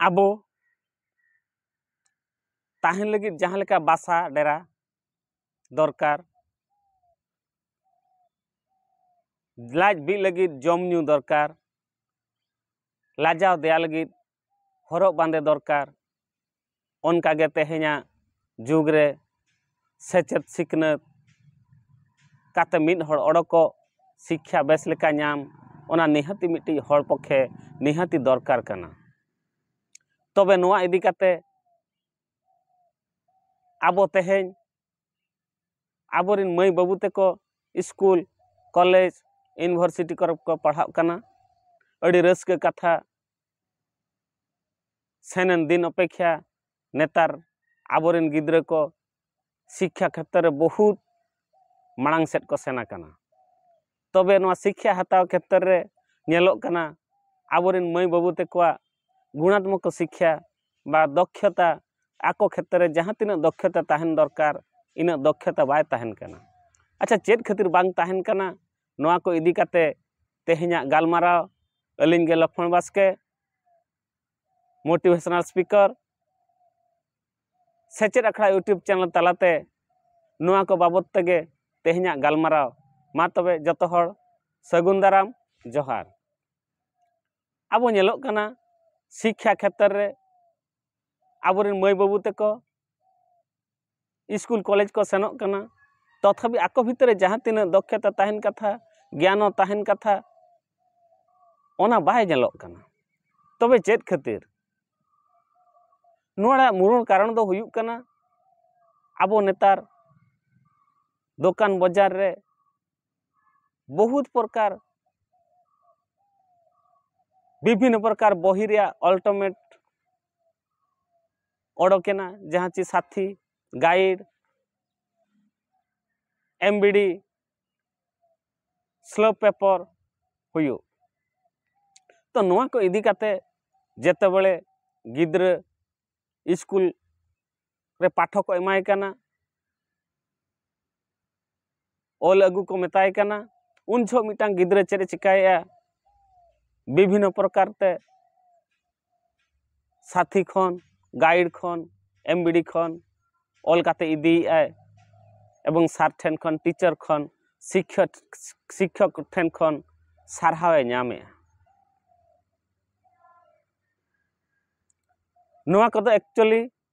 ᱟᱵᱚ ᱛᱟᱦᱮᱱ ᱞᱟᱹᱜᱤᱫ ᱡᱟᱦᱟᱸ ᱞᱮᱠᱟ ᱵᱟᱥᱟ ᱰᱮᱨᱟ ᱫᱚᱨᱠᱟᱨ ᱞᱟᱡ ᱵᱤᱜ ᱞᱟᱹᱜᱤᱫ ᱡᱚᱢ ᱧᱩ ᱫᱚᱨᱠᱟᱨ ᱞᱟᱡᱟᱣ ᱫᱮᱭᱟ ᱞᱟᱹᱜᱤᱫ ᱦᱚᱨᱚᱜ ᱵᱟᱸᱫᱮ ᱫᱚᱨᱠᱟᱨ ᱚᱱᱠᱟ ᱜᱮ ᱛᱮᱦᱮᱧᱟᱜ ᱡᱩᱜᱽ ᱨᱮ ᱥᱮᱪᱮᱫ ᱥᱤᱠᱷᱱᱟᱹᱛ ᱠᱟᱛᱮ ᱢᱤᱫ ᱦᱚᱲ ᱚᱰᱚᱠᱚᱜ ᱥᱤᱠᱠᱷᱟ ᱵᱮᱥ ᱞᱮᱠᱟ ᱧᱟᱢ ᱚᱱᱟ ᱱᱤᱦᱟᱹᱛᱤ ᱢᱤᱫᱴᱤᱡ ᱦᱚᱲ ᱯᱚᱠᱠᱷᱮ ᱱᱤᱦᱟᱹᱛᱤ ᱫᱚᱨᱠᱟᱨ ᱠᱟᱱᱟ ᱛᱚᱵᱮ ᱱᱚᱣᱟ ᱤᱫᱤ ᱠᱟᱛᱮ ᱟᱵᱚ ᱛᱮᱦᱮᱧ ᱟᱵᱚᱨᱮᱱ ᱢᱟᱹᱭ ᱵᱟᱹᱵᱩ ᱛᱮᱠᱚ ᱥᱠᱩᱞ ᱠᱚᱞᱮᱡᱽ ᱤᱭᱩᱱᱤᱵᱷᱟᱨᱥᱤᱴᱤ ᱠᱚᱨᱮ ᱠᱚ ᱯᱟᱲᱦᱟᱜ ᱠᱟᱱᱟ ᱟᱹᱰᱤ ᱨᱟᱹᱥᱠᱟᱹ ᱠᱟᱛᱷᱟ ᱥᱮᱱᱮᱱ ᱫᱤᱱ ᱚᱯᱮᱠᱷᱟ ᱱᱮᱛᱟᱨ ᱟᱵᱚᱨᱮᱱ ᱜᱤᱫᱽᱨᱟᱹ ᱠᱚ ᱥᱤᱠᱠᱷᱟ ᱠᱷᱮᱛᱨᱮ ᱨᱮ ᱵᱚᱦᱩᱛ ᱢᱟᱲᱟᱝ ᱥᱮᱫ ᱠᱚ ᱥᱮᱱ ᱟᱠᱟᱱᱟ ᱛᱚᱵᱮ ᱱᱚᱣᱟ ᱥᱤᱠᱠᱷᱟ ᱦᱟᱛᱟᱣ ᱠᱷᱮᱛᱨᱮ ᱨᱮ ᱧᱮᱞᱚᱜ ᱠᱟᱱᱟ ᱟᱵᱚᱨᱮᱱ ᱢᱟᱹᱭ ᱵᱟᱹᱵᱩ ᱛᱟᱠᱚᱣᱟᱜ ᱜᱩᱬᱟᱛᱢᱚᱠ ᱥᱤᱠᱠᱷᱟ ᱵᱟ ᱫᱚᱠᱷᱚᱛᱟ ᱟᱠᱚ ᱠᱷᱮᱛᱨᱮ ᱨᱮ ᱡᱟᱦᱟᱸ ᱛᱤᱱᱟᱹᱜ ᱫᱚᱠᱷᱚᱛᱟ ᱛᱟᱦᱮᱱ ᱫᱚᱨᱠᱟᱨ ᱤᱱᱟᱹᱜ ᱫᱚᱠᱷᱚᱛᱟ ᱵᱟᱭ ᱛᱟᱦᱮᱱ ᱠᱟᱱᱟ ᱟᱪᱪᱷᱟ ᱪᱮᱫ ᱠᱷᱟᱹᱛᱤᱨ ᱵᱟᱝ ᱛᱟᱦᱮᱱ ᱠᱟᱱᱟ ᱱᱚᱣᱟ ᱠᱚ ᱤᱫᱤ ᱠᱟᱛᱮ ᱛᱮᱦᱮᱧᱟᱜ ᱜᱟᱞᱢᱟᱨᱟᱣ ᱟᱹᱞᱤᱧ ᱜᱮ ᱞᱚᱠᱷᱢᱚᱬ ᱵᱟᱥᱠᱮ ᱢᱳᱴᱤᱵᱷᱮᱥᱚᱱᱟᱞ ᱥᱯᱤᱠᱟᱨ ᱥᱮᱪᱮᱫ ᱟᱠᱷᱲᱟ ᱤᱭᱩᱴᱩᱵᱽ ᱪᱮᱱᱮᱞ ᱛᱟᱞᱟᱛᱮ ᱱᱚᱣᱟ ᱠᱚ ᱵᱟᱵᱚᱛ ᱛᱮᱜᱮ ᱛᱮᱦᱮᱧᱟᱜ ᱜᱟᱞᱢᱟᱨᱟᱣ ᱢᱟ ᱛᱚᱵᱮ ᱡᱚᱛᱚ ᱦᱚᱲ ᱥᱟᱹᱜᱩᱱ ᱫᱟᱨᱟᱢ ᱡᱚᱦᱟᱨ ᱟᱵᱚ ᱧᱮᱞᱚᱜ ᱠᱟᱱᱟ ᱥᱤᱠᱠᱷᱟ ᱠᱷᱮᱛᱨᱮ ᱨᱮ ᱟᱵᱚᱨᱮᱱ ᱢᱟᱹᱭ ᱵᱟᱹᱵᱩ ᱛᱟᱠᱚ ᱤᱥᱠᱩᱞ ᱠᱚᱞᱮᱡᱽ ᱠᱚ ᱥᱮᱱᱚᱜ ᱠᱟᱱᱟ ᱛᱚᱛᱷᱟᱯᱤ ᱟᱠᱚ ᱵᱷᱤᱛᱨᱤ ᱨᱮ ᱡᱟᱦᱟᱸ ᱛᱤᱱᱟᱹᱜ ᱫᱚᱠᱠᱷᱚᱛᱟ ᱛᱟᱦᱮᱱ ᱠᱟᱛᱷᱟ ᱜᱮᱭᱟᱱ ᱦᱚᱸ ᱛᱟᱦᱮᱱ ᱠᱟᱛᱷᱟ ᱚᱱᱟ ᱵᱟᱭ ᱧᱮᱞᱚᱜ ᱠᱟᱱᱟ ᱛᱚᱵᱮ ᱪᱮᱫ ᱠᱷᱟᱹᱛᱤᱨ ᱱᱚᱣᱟ ᱨᱮᱭᱟᱜ ᱢᱩᱬ ᱠᱟᱨᱚᱱ ᱫᱚ ᱦᱩᱭᱩᱜ ᱠᱟᱱᱟ ᱟᱵᱚ ᱱᱮᱛᱟᱨ ᱫᱚᱠᱟᱱ ᱵᱟᱡᱟᱨ ᱨᱮ ᱵᱚᱦᱩᱛ ᱯᱨᱚᱠᱟᱨ ᱵᱤᱵᱷᱤᱱᱱᱚ ᱯᱨᱚᱠᱟᱨ ᱵᱚᱦᱤ ᱨᱮᱭᱟᱜ ᱚᱞᱴᱚᱢᱮᱴ ᱚᱰᱚᱠᱮᱱᱟ ᱡᱟᱦᱟᱸ ᱪᱮ ᱥᱟᱛᱷᱤ ᱜᱟᱭᱤᱰ ᱮᱢᱵᱤᱰᱤ ᱥᱞᱳ ᱯᱮᱯᱚᱨ ᱦᱩᱭᱩᱜ ᱛᱚ ᱱᱚᱣᱟ ᱠᱚ ᱤᱫᱤ ᱠᱟᱛᱮ ᱡᱮᱛᱮ ᱵᱮᱲᱮ ᱜᱤᱫᱽᱨᱟᱹ ᱤᱥᱠᱩᱞ ᱨᱮ ᱯᱟᱴᱷᱚ ᱠᱚ ᱮᱢᱟᱭ ᱠᱟᱱᱟ ᱚᱞ ᱟᱹᱜᱩ ᱠᱚ ᱢᱮᱛᱟᱭ ᱠᱟᱱᱟ ᱩᱱ ᱡᱚᱦᱚᱜ ᱢᱤᱫᱴᱟᱝ ᱜᱤᱫᱽᱨᱟᱹ ᱪᱮᱫ ᱮ ᱪᱤᱠᱟᱹᱭᱮᱫᱼᱟ ᱵᱤᱵᱷᱤᱱᱱᱚ ᱯᱨᱚᱠᱟᱨ ᱛᱮ ᱥᱟᱛᱷᱤ ᱠᱷᱚᱱ ᱜᱟᱭᱤᱰ ᱠᱷᱚᱱ ᱮᱢᱵᱤᱰᱤ ᱠᱷᱚᱱ ᱚᱞ ᱠᱟᱛᱮ ᱤᱫᱤᱭᱮᱫᱼᱟᱭ ᱮᱵᱚᱝ ᱥᱟᱨ ᱴᱷᱮᱱ ᱠᱷᱚᱱ ᱴᱤᱪᱟᱨ ᱠᱷᱚᱱ ᱥᱤᱠᱠᱷᱚᱠ ᱥᱤᱠᱠᱷᱚᱠ ᱴᱷᱮᱱ ᱠᱷᱚᱱ ᱥᱟᱨᱦᱟᱣ ᱮ ᱧᱟᱢᱮᱫᱼᱟ ᱱᱚᱣᱟ ᱠᱚᱫᱚ ᱮᱠᱪᱩᱭᱮᱞᱤ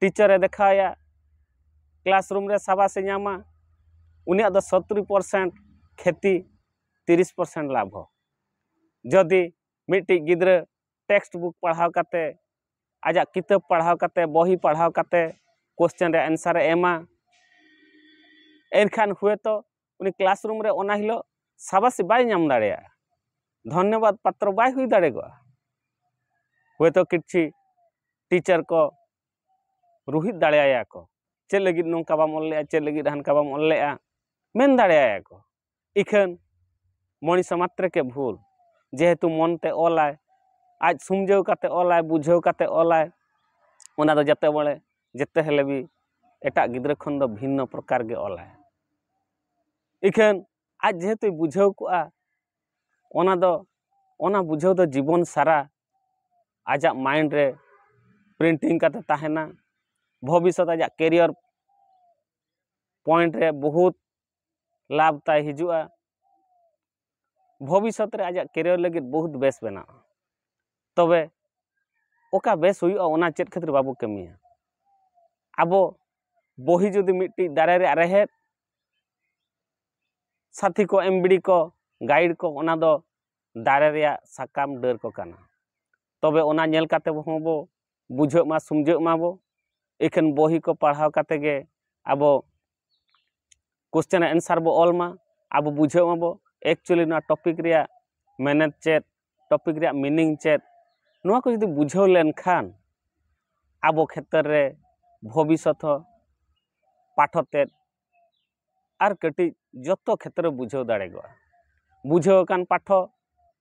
ᱴᱤᱪᱟᱨᱮ ᱫᱮᱠᱷᱟᱣᱟᱭᱟ ᱠᱞᱟᱥ ᱨᱩᱢ ᱨᱮ ᱥᱟᱵᱟᱥᱮ ᱧᱟᱢᱟ ᱩᱱᱤᱭᱟᱜ ᱫᱚ ᱥᱚᱛᱨᱤ ᱯᱟᱨᱥᱮᱱᱴ ᱠᱷᱮᱛᱤ ᱛᱤᱨᱤᱥ ᱯᱟᱨᱥᱮᱱᱴ ᱞᱟᱵᱷᱚ ᱡᱚᱫᱤ ᱢᱤᱫᱴᱤᱡ ᱜᱤᱫᱽᱨᱟᱹ ᱴᱮᱠᱥᱴ ᱵᱩᱠ ᱯᱟᱲᱦᱟᱣ ᱠᱟᱛᱮ ᱟᱡᱟᱜ ᱠᱤᱛᱟᱹᱵ ᱯᱟᱲᱦᱟᱣ ᱠᱟᱛᱮ ᱵᱚᱦᱤ ᱯᱟᱲᱦᱟᱣ ᱠᱟᱛᱮ ᱠᱚᱥᱪᱮᱱ ᱨᱮᱭᱟᱜ ᱮᱱᱥᱟᱨᱮ ᱮᱢᱟ ᱮᱱᱠᱷᱟᱱ ᱦᱳᱭᱛᱚ ᱩᱱᱤ ᱠᱞᱟᱥ ᱨᱩᱢ ᱨᱮ ᱚᱱᱟ ᱦᱤᱞᱳᱜ ᱥᱟᱵᱟᱥᱤ ᱵᱟᱭ ᱧᱟᱢ ᱫᱟᱲᱮᱭᱟᱜᱼᱟ ᱫᱷᱚᱱᱱᱚᱵᱟᱫ ᱯᱟᱛᱨᱚ ᱵᱟᱭ ᱦᱩᱭ ᱫᱟᱲᱮᱭᱟᱜᱼᱟ ᱦᱚᱭᱛᱳ ᱠᱤᱪᱷᱤ ᱴᱤᱪᱟᱨ ᱠᱚ ᱨᱩᱦᱤᱫ ᱫᱟᱲᱮᱭᱟᱭᱟ ᱠᱚ ᱪᱮᱫ ᱞᱟᱹᱜᱤᱫ ᱱᱚᱝᱠᱟ ᱵᱟᱢ ᱚᱞ ᱞᱮᱜᱼᱟ ᱪᱮᱫ ᱞᱟᱹᱜᱤᱫ ᱦᱟᱱᱠᱟ ᱵᱟᱢ ᱚᱞ ᱞᱮᱜᱼᱟ ᱢᱮᱱ ᱫᱟᱲᱮᱭᱟᱭᱟ ᱠᱚ ᱤᱠᱷᱟᱹᱱ ᱢᱚᱱᱤᱥ ᱢᱟᱛᱨᱮ ᱠᱮ ᱵᱷᱩᱞ ᱡᱮᱦᱮᱛᱩ ᱢᱚᱱᱛᱮ ᱚᱞᱟᱭ ᱟᱡ ᱥᱩᱢᱡᱟᱹᱣ ᱠᱟᱛᱮ ᱚᱞᱟᱭ ᱵᱩᱡᱷᱟᱹᱣ ᱠᱟᱛᱮ ᱚᱞᱟᱭ ᱚᱱᱟ ᱫᱚ ᱡᱟᱛᱮ ᱵᱚᱞᱮ ᱡᱮᱛᱮ ᱦᱮᱞᱮ ᱵᱤ ᱮᱴᱟᱜ ᱜᱤᱫᱽᱨᱟᱹ ᱠᱷᱚᱱ ᱫᱚ ᱵᱷᱤᱱᱱᱚ ᱯᱨᱚᱠᱟᱨ ᱜᱮ ᱚᱞᱟᱭ ᱤᱠᱷᱟᱹᱱ ᱟᱡ ᱡᱮᱦᱮᱛᱩᱭ ᱵᱩᱡᱷᱟᱹᱣ ᱠᱚᱜᱼᱟ ᱚᱱᱟ ᱫᱚ ᱚᱱᱟ ᱵᱩᱡᱷᱟᱹᱣ ᱫᱚ ᱡᱤᱵᱚᱱ ᱥᱟᱨᱟ ᱟᱡᱟᱜ ᱢᱟᱭᱤᱱᱰ ᱨᱮ ᱯᱨᱤᱱᱴᱤᱝ ᱠᱟᱛᱮ ᱛᱟᱦᱮᱱᱟ ᱵᱷᱚᱵᱤᱥᱥᱚᱛ ᱟᱡᱟᱜ ᱠᱮᱨᱤᱭᱚᱨ ᱯᱚᱭᱮᱱᱴ ᱨᱮ ᱵᱚᱦᱩᱛ ᱞᱟᱵᱷ ᱛᱟᱭ ᱦᱤᱡᱩᱜᱼᱟ ᱵᱷᱚᱵᱤᱥᱚᱛ ᱨᱮ ᱟᱡᱟᱜ ᱠᱮᱨᱤᱭᱟᱨ ᱞᱟᱹᱜᱤᱫ ᱵᱚᱦᱩᱛ ᱵᱮᱥ ᱵᱮᱱᱟᱜᱼᱟ ᱛᱚᱵᱮ ᱚᱠᱟ ᱵᱮᱥ ᱦᱩᱭᱩᱜᱼᱟ ᱚᱱᱟ ᱪᱮᱫ ᱠᱷᱟᱹᱛᱤᱨ ᱵᱟᱵᱚ ᱠᱟᱹᱢᱤᱭᱟ ᱟᱵᱚ ᱵᱚᱦᱤ ᱡᱩᱫᱤ ᱢᱤᱫᱴᱤᱡ ᱫᱟᱨᱮ ᱨᱮᱭᱟᱜ ᱨᱮᱦᱮᱫ ᱥᱟᱛᱷᱤ ᱠᱚ ᱮᱢᱵᱤᱲᱤ ᱠᱚ ᱜᱟᱭᱤᱰ ᱠᱚ ᱚᱱᱟ ᱫᱚ ᱫᱟᱨᱮ ᱨᱮᱭᱟᱜ ᱥᱟᱠᱟᱢ ᱰᱟᱹᱨ ᱠᱚ ᱠᱟᱱᱟ ᱛᱚᱵᱮ ᱚᱱᱟ ᱧᱮᱞ ᱠᱟᱛᱮ ᱦᱚᱸ ᱵᱚ ᱵᱩᱡᱷᱟᱹᱜ ᱢᱟ ᱥᱩᱢᱡᱷᱟᱹᱜ ᱢᱟᱵᱚ ᱮᱠᱷᱮᱱ ᱵᱚᱦᱤ ᱠᱚ ᱯᱟᱲᱦᱟᱣ ᱠᱟᱛᱮ ᱜᱮ ᱟᱵᱚ ᱠᱚᱥᱪᱮᱱ ᱮᱱᱥᱟᱨ ᱵᱚ ᱚᱞ ᱢᱟ ᱟᱵᱚ ᱵᱩᱡᱷᱟᱹᱜ ᱢᱟᱵᱚ ᱮᱠᱪᱩᱭᱮᱞᱤ ᱱᱚᱣᱟ ᱴᱚᱯᱤᱠ ᱨᱮᱭᱟᱜ ᱢᱮᱱᱮᱛ ᱪᱮᱫ ᱴᱚᱯᱤᱠ ᱨᱮᱭᱟᱜ ᱢᱤᱱᱤᱝ ᱪᱮᱫ ᱱᱚᱣᱟ ᱠᱚ ᱡᱩᱫᱤ ᱵᱩᱡᱷᱟᱹᱣ ᱞᱮᱱᱠᱷᱟᱱ ᱟᱵᱚ ᱠᱷᱮᱛᱨᱮ ᱨᱮ ᱵᱷᱚᱵᱤᱥᱥᱚᱛ ᱦᱚᱸ ᱯᱟᱴᱷᱚ ᱛᱮᱫ ᱟᱨ ᱠᱟᱹᱴᱤᱡ ᱡᱚᱛᱚ ᱠᱷᱮᱛᱨᱮ ᱵᱩᱡᱷᱟᱹᱣ ᱫᱟᱲᱮ ᱠᱚᱜᱼᱟ ᱵᱩᱡᱷᱟᱹᱣ ᱟᱠᱟᱱ ᱯᱟᱴᱷᱚ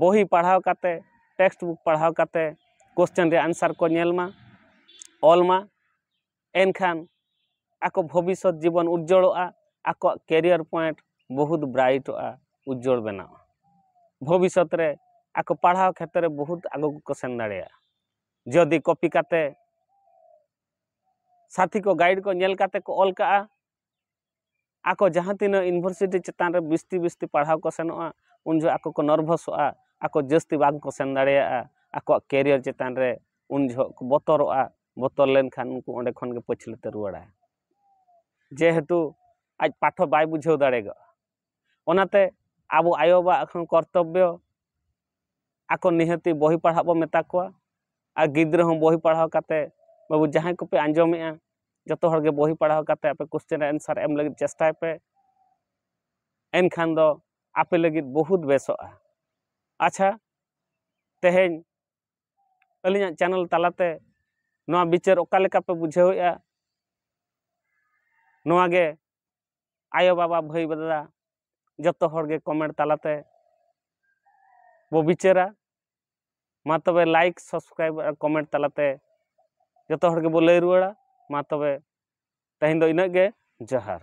ᱵᱚᱦᱤ ᱯᱟᱲᱦᱟᱣ ᱠᱟᱛᱮ ᱴᱮᱠᱥᱴ ᱵᱩᱠ ᱯᱟᱲᱦᱟᱣ ᱠᱟᱛᱮ ᱠᱚᱥᱪᱮᱱ ᱨᱮᱭᱟᱜ ᱮᱱᱥᱟᱨ ᱠᱚ ᱧᱮᱞ ᱢᱟ ᱚᱞ ᱢᱟ ᱮᱱᱠᱷᱟᱱ ᱟᱠᱚ ᱵᱷᱚᱵᱤᱥᱥᱚᱛ ᱡᱤᱵᱚᱱ ᱩᱡᱡᱚᱞᱚᱜᱼᱟ ᱟᱠᱚᱣᱟᱜ ᱠᱮᱨᱤᱭᱟᱨ ᱯᱚᱭᱮᱱᱴ ᱵᱚᱦᱩᱛ ᱵᱨᱟᱭᱤᱴᱚᱜᱼᱟ ᱩᱡᱡᱚᱞ ᱵᱮᱱᱟᱜᱼᱟ ᱵᱷᱚᱵᱤᱥᱥᱚᱛ ᱨᱮ ᱟᱠᱚ ᱯᱟᱲᱦᱟᱣ ᱠᱷᱮᱛᱨᱮ ᱵᱚᱦᱩᱛ ᱟᱜᱩ ᱠᱚ ᱥᱮᱱ ᱫᱟᱲᱮᱭᱟᱜᱼᱟ ᱡᱚᱫᱤ ᱠᱚᱯᱤ ᱠᱟᱛᱮ ᱥᱟᱛᱷᱤ ᱠᱚ ᱜᱟᱭᱤᱰ ᱠᱚ ᱧᱮᱞ ᱠᱟᱛᱮ ᱠᱚ ᱚᱞ ᱠᱟᱜᱼᱟ ᱟᱠᱚ ᱡᱟᱦᱟᱸ ᱛᱤᱱᱟᱹᱜ ᱤᱭᱩᱱᱤᱵᱷᱟᱨᱥᱤᱴᱤ ᱪᱮᱛᱟᱱ ᱨᱮ ᱵᱤᱥᱛᱤ ᱵᱤᱥᱛᱤ ᱯᱟᱲᱦᱟᱣ ᱠᱚ ᱥᱮᱱᱚᱜᱼᱟ ᱩᱱ ᱡᱚᱦᱚᱜ ᱟᱠᱚ ᱠᱚ ᱱᱟᱨᱵᱷᱟᱥᱚᱜᱼᱟ ᱟᱠᱚ ᱡᱟᱹᱥᱛᱤ ᱵᱟᱝ ᱠᱚ ᱥᱮᱱ ᱫᱟᱲᱮᱭᱟᱜᱼᱟ ᱟᱠᱚᱣᱟᱜ ᱠᱮᱨᱤᱭᱟᱨ ᱪᱮᱛᱟᱱ ᱨᱮ ᱩᱱ ᱡᱚᱦᱚᱜ ᱠᱚ ᱵᱚᱛᱚᱨᱚᱜᱼᱟ ᱵᱚᱛᱚᱨ ᱞᱮᱱᱠᱷᱟᱱ ᱩᱱᱠᱩ ᱚᱸᱰᱮ ᱠᱷᱚᱱ ᱜᱮ ᱯᱟᱹᱪᱷᱞᱟᱹ ᱛᱮ ᱨᱩᱣᱟᱹᱲᱟᱭ ᱡᱮᱦᱮᱛᱩ ᱟᱡ ᱯᱟᱴᱷᱚ ᱵᱟᱭ ᱵᱩᱡᱷᱟᱹᱣ ᱫᱟᱲᱮ ᱠᱟᱣᱫᱟ ᱚᱱᱟᱛᱮ ᱟᱵᱚ ᱟᱭᱳ ᱵᱟᱵᱟᱣᱟᱜ ᱦᱚᱸ ᱠᱚᱨᱛᱚᱵᱽᱵᱚ ᱟᱠᱚ ᱱᱤᱦᱟᱹᱛᱤ ᱵᱳᱭ ᱯᱟᱲᱦᱟᱜ ᱵᱚ ᱢᱮᱛᱟ ᱠᱚᱣᱟ ᱟᱨ ᱜᱤᱫᱽᱨᱟᱹ ᱦᱚᱸ ᱵᱳᱭ ᱯᱟᱲᱦᱟᱣ ᱠᱟᱛᱮᱫ ᱵᱟᱹᱵᱩ ᱡᱟᱦᱟᱸᱭ ᱠᱚᱯᱮ ᱟᱸᱡᱚᱢᱮᱜᱼᱟ ᱡᱚᱛᱚ ᱦᱚᱲ ᱜᱮ ᱵᱳᱭ ᱯᱟᱲᱦᱟᱣ ᱠᱟᱛᱮᱫ ᱟᱯᱮ ᱠᱚᱥᱪᱮᱱ ᱨᱮᱭᱟᱜ ᱮᱱᱥᱟᱨ ᱮᱢ ᱞᱟᱹᱜᱤᱫ ᱪᱮᱥᱴᱟᱭ ᱯᱮ ᱮᱱᱠᱷᱟᱱ ᱫᱚ ᱟᱯᱮ ᱞᱟᱹᱜᱤᱫ ᱵᱚᱦᱩᱛ ᱵᱮᱥᱚᱜᱼᱟ ᱟᱪᱪᱷᱟ ᱛᱮᱦᱮᱧ ᱟᱹᱞᱤᱧᱟᱜ ᱪᱮᱱᱮᱞ ᱛᱟᱞᱟᱛᱮ ᱱᱚᱣᱟ ᱵᱤᱪᱟᱹᱨ ᱚᱠᱟ ᱞᱮᱠᱟ ᱯᱮ ᱵᱩᱡᱷᱟᱹᱣᱮᱜᱼᱟ ᱱᱚᱣᱟ ᱜᱮ ᱟᱭᱳ ᱵᱟᱵᱟ ᱵᱷᱟᱹᱭ ᱵᱟᱫᱟ ᱡᱚᱛᱚ ᱦᱚᱲ ᱜᱮ ᱠᱚᱢᱮᱱᱴ ᱛᱟᱞᱟᱛᱮ ᱵᱚ ᱵᱤᱪᱟᱹᱨᱟ ᱢᱟ ᱛᱚᱵᱮ ᱞᱟᱭᱤᱠ ᱥᱟᱵᱥᱠᱨᱟᱭᱤᱵ ᱟᱨ ᱠᱚᱢᱮᱱᱴ ᱛᱟᱞᱟᱛᱮ ᱡᱚᱛᱚ ᱦᱚᱲ ᱜᱮᱵᱚ ᱞᱟᱹᱭ ᱨᱩᱣᱟᱹᱲᱟ ᱢᱟ ᱛᱚᱵᱮ ᱛᱮᱦᱮᱧ ᱫᱚ ᱤᱱᱟᱹᱜ ᱜᱮ ᱡᱚᱦᱟᱨ